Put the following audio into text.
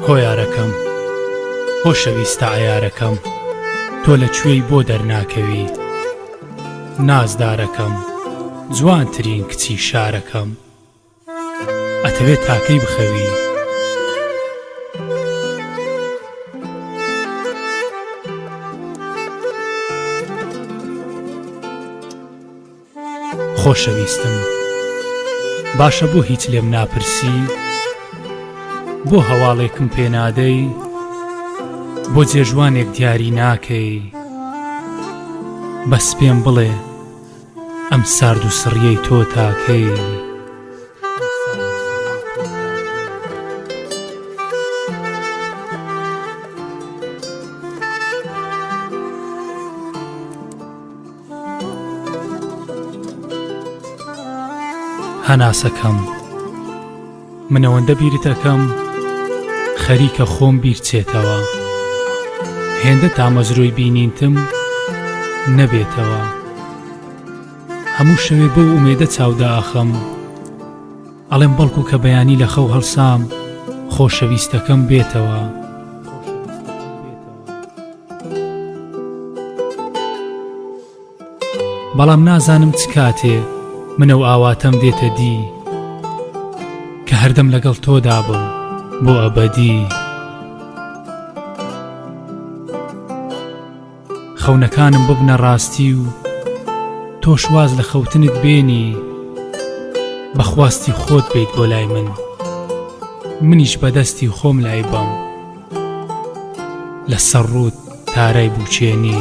هۆیارەکەم خۆشەویستە عیارەکەم تۆ لە کوێی بۆ دەرناکەوی نازدارەکەم جوانترین کچی شارەکەم ئەتەوێ تاکەی بخەوی؟ خۆشەویستم باشە بۆ هیچ لێم ناپرسی بۆ هەواڵێکم پێ نادەی بۆ جێژوانێک دیاری ناکەی بەس پێم بڵێ ئەم سارد و سڕیەی تۆ تاکەی. هەناسەکەم. من ئەوەندە بیرت ئەکەم خەریکە خۆم بیرچێتەوە هێندە تامەزرۆی بینینتم نەبێتەوە هەموو شەوێ بەو ئومێدە چاودا ئاخەم ئەڵێم بەڵکو کە بەیانی لە خەو هەڵسام خۆشەویستەکەم بێتەوە بەڵام نازانم چ کاتێ من ئەو ئاواتەم دێتە دی کە هەردەم لەگەڵ تۆدا بم بۆ ئەبەدی خەونەکانم ببنە ڕاستی و تۆش واز لە خەوتنت بێنی بە خواستی خۆت بێیت بۆ لای من منیش بەدەستی خۆم لای بەم. لە سەر ڕووت تارای بووکێنی.